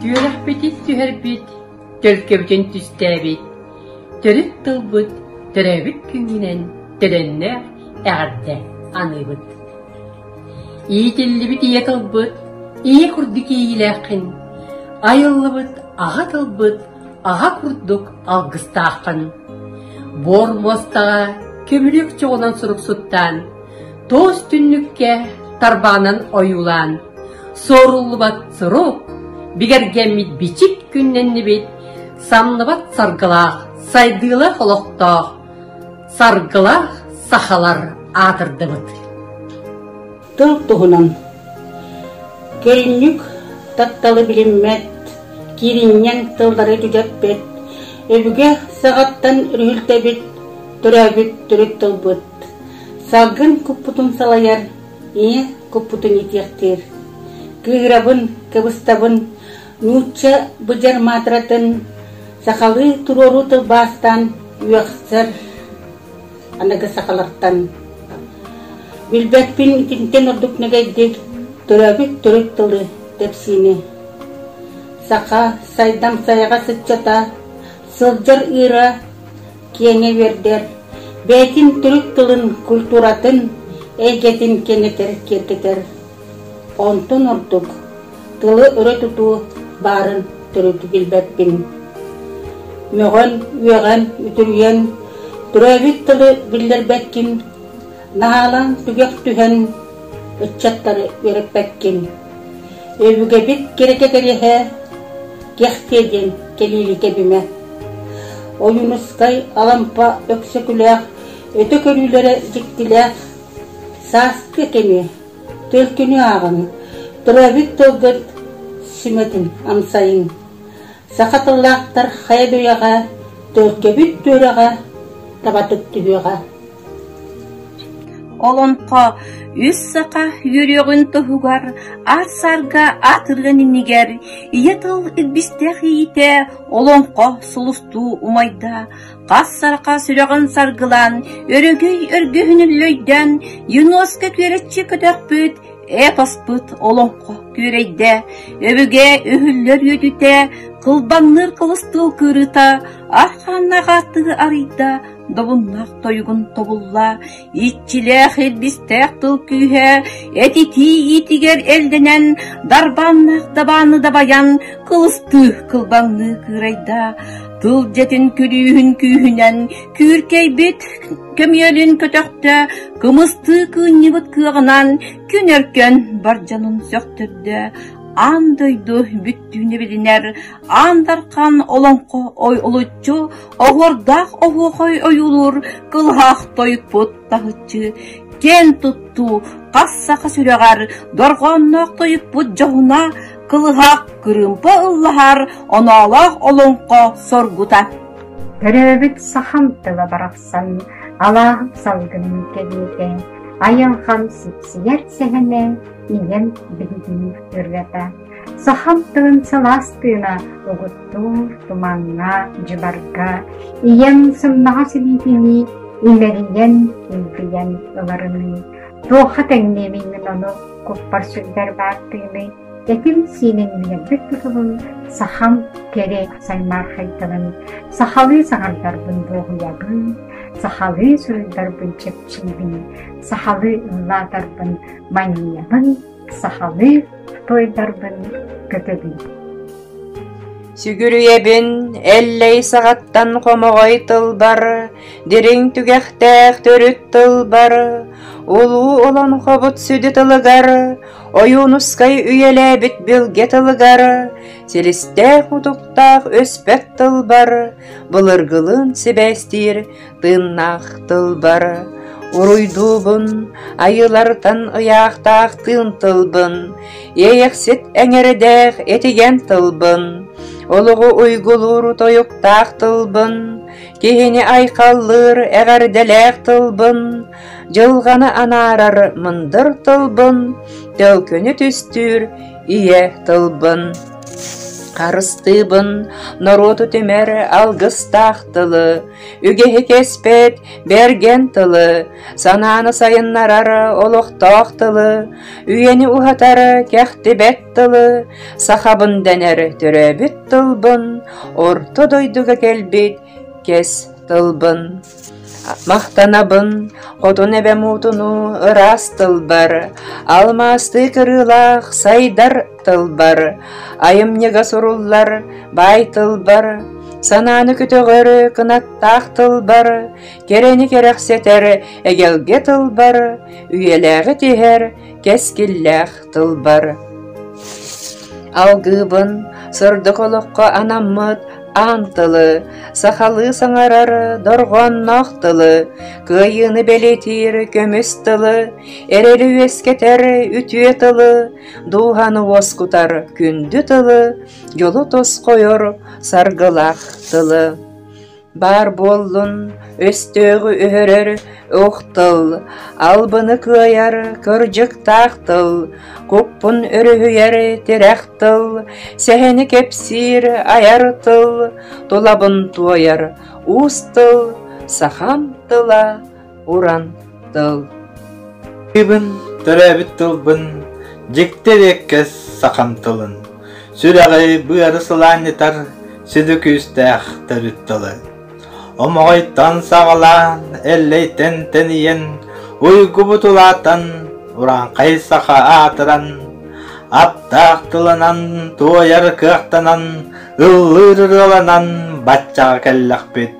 Түөрэхпитин түһэрбит, төлкөбүтүн түстээбит, төрүт тылбыт, төрөөбүт күҥҥүнэн төлөннөөх эҕэрдэ аныыбыт. Иитиллибит ийэ тылбыт, ийэ курдук иэйиилээххин, айыллыбыт аҕа тылбыт аҕа курдук алгыстааххын. Буор муостаҕа көмүлүөк чоҕунан суруксуттаан Тоос түннүккэ тарбаанан ойуулаан суоруллубат сурук, бигэргэммит бичик күннэннибит, самныбат саргылаах, сайдыылах олохтоох, саргылаах сахалар аатырдыбыт. Тыл туһунан Көлүннүк тапталы билиммэт, кииринньэҥ тыллары түгэппит, өбүгэ саҕаттан үрүлтэбит, төрөөбүт төрүт тылбыт. Салгын куппутун салайар, ийэ куппутун итиэхтиир. Кыыһырабын, кыбыстабын, нуучча быдьар маатыратын сахалыы туруоруу тылбаастаан үөхсэр аныгы сахалартан. Билбэппин итинтэн ордук нэгэйдик төрөөбүт төрүт тылы тэпсиини. Саха сайдам сайаҕас ыччата сылдьар ыыра киэҥэ үөрдэр, бэйэтин төрүт тылын, культуратын, эйгэтин киэнэтэр-киэргэтэр. Онтон ордук тылы өрө тутуу баарын төрүтү билбэппин. Мөҕөн, үөҕэн, үтүрүйэн, төрөөбүт тылы биллэрбэккин, наһаалаан түгэх түһэн, ыччаттары үөрэппэккин. Өбүгэбит кирэкэтэриэһэ Кэхтиэ диэн кэлиили кэбимэ. Ойуунускай Алампа Өксөкүлээх өтө көрүүлэрэ дьиктилээх сааскы кэми, төлкүнү ааҕыҥ, төрөөбүт тылгыт сүмэтин амсайыҥ. Саха тыллаахтар хайа дөйөҕө, төлкөбүт түөрэҕэ, табатык түһүөҕэ. Олоҥхо үс саха үөрүөҕүн туһугар ат-сарга атыылын иннигэр ийэ тыл илбистээх иитэ олоҥхо сулустуу умайда, хас саха сүрэҕин саргылаан, өрөгөй өргөһүнүн лөйдөөн, Юноска күөрэччи көтөхпүт, эпоспыт олоҥхо күөрэйдэ, өбүгэ үһүллэр үөтүтэ, кылбаҥныыр кылыстыыл кырыыта, архааннаах ааттыы арыйда, Добуннаах тойугун тобулла, иччилээх илбистээх тыл күүһэ этитии иитигэр элдэнэн, дарбааннаах дабааны дабайан, кылыстыы кылбаҥныы кыырайда, тыл дьэтин күлүүһүн күүһүнэн, күүркэйбит көмүөлүн көтөхтө, кымыстыы кыынньыбыт кыаҕынан, күн өркөн бар дьонун сөхтөрдө, аан дойду бүттүүнэ билинэр, аан дархан олоҥхо ой олуччу Оһуордаах оһуохай ойуулуур кылаһах тойукпут таһыччы киэн туттуу хас саха сүрэҕэр дорҕоонноох тойукпут дьоһуна кылыһах кырыымпа ыллаһар оноолоох олоҥхо соргута. Төрөөбүт сахам тыла барахсан алааһым салгынын кэриэтэ, айылҕам сипсийэр сэһэнэ ийэм биһигини ырҕата. Сахам тылын сылаас тыына угуттуур, тумаҥҥа, дьыбарга, ийэм сымнаҕас илиитинии имэрийэн, илбийэн ыларыныы, туохха тэҥниэмий мин ону, куппар сүрдэр баартыыны, этим-сииним билэрбит тутулун, сахам кэрэ саймаархайдарын, сахалыы саҥардарбын дуоһуйабын, сахалыы суруйдарбын чэпчиибин, сахалыы ыллаатарбын манньыйабын, Сахалыы тойдарбын көтөбүн Сүгүрүйэбин Эллэй саҕаттан хомоҕой тылбар Дириҥ түгэхтээх төрүт тылбар Улуу олоҥхобут сүдү тылыгар Ойуунускай үйэлээбит билгэ тылыгар Силистээх-утуктаах өспөт тылбар Былыргылыын сибээстиир Тыыннаах тылбар уруйдуубун, айыылартан ыйаахтаах тыын тылбын, иэйэксит эҥэрдээх этигэн тылбын, олоҕу уйгулуур тойуктаах тылбын, киһини айхаллыыр эҕэрдэлээх тылбын, дьылҕаны анаарар мындыр тылбын, төлкүнү түстүүр ийэ тылбын. Харыстыыбын норуоту түмэр алгыстаах тылы, Үгэһи кэспэт бэргэн тылы, санааны сайыннарар олохтоох тылы, үйэни уһатар кэхтибэт тылы, сахабын дэнэр төрөөбүт тылбын, орто дойдуга кэлбит кэс тылбын. Махтанабын хотун эбэ муутуну ыраас тылбар, алмаастыы кырыылаах сайдар тылбар, айымньыга суруллар баай тылбар, санааны көтөҕөр кынаттаах тылбар, кэрэни кэрэхсэтэр эгэлгэ тылбар, үйэлээҕи тиһэр кэскиллээх тылбар. Алгыыбын сырдык олоххо анаммыт аан тылы, сахалыы саҥарар дорҕоонноох тылы, кыайыыны бэлиэтиир көмүс тылы, эрэри үөскэтэр үтүө тылы, Дууһаны уоскутар күндү тылы, Дьолу тосхойор саргылах тылы. Баар буоллун өстөөҕү өһөрөр ох тыл, Албыны кыайар кырдьыктаах тыл, Куппун өрүһүйэр тирэх тыл, Сэһэни кэпсиир айар тыл, Тулабын туойар уус тыл, Сахам тыла уран тыл Тыбын төрөөбүт тылбын дьикти диэккэс сахам тылын сүрэҕи быары сылаанньытар сүдү күүстээх төрүт тылы омоҕойтон саҕалаан эллэйтэн тэнийэн уйгубут улаатан урааҥхай саха аатыран аптаах тылынан туойар кыахтанан ыллыыр ырыаланан баччаҕа кэллэхпит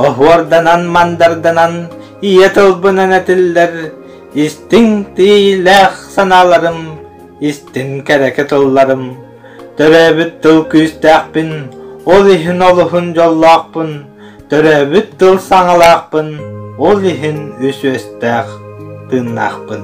оһуорданан мандарданан ийэ тылбынан этиллэр истиҥ тиийлээх санааларым истин кэрэки тылларым төрөөбүт тыл күүстээхпин ол иһин олуһун дьоллоохпун төрөөбүт тыл саҥалаахпын ол иһин үсүөстээх тыыннаахпын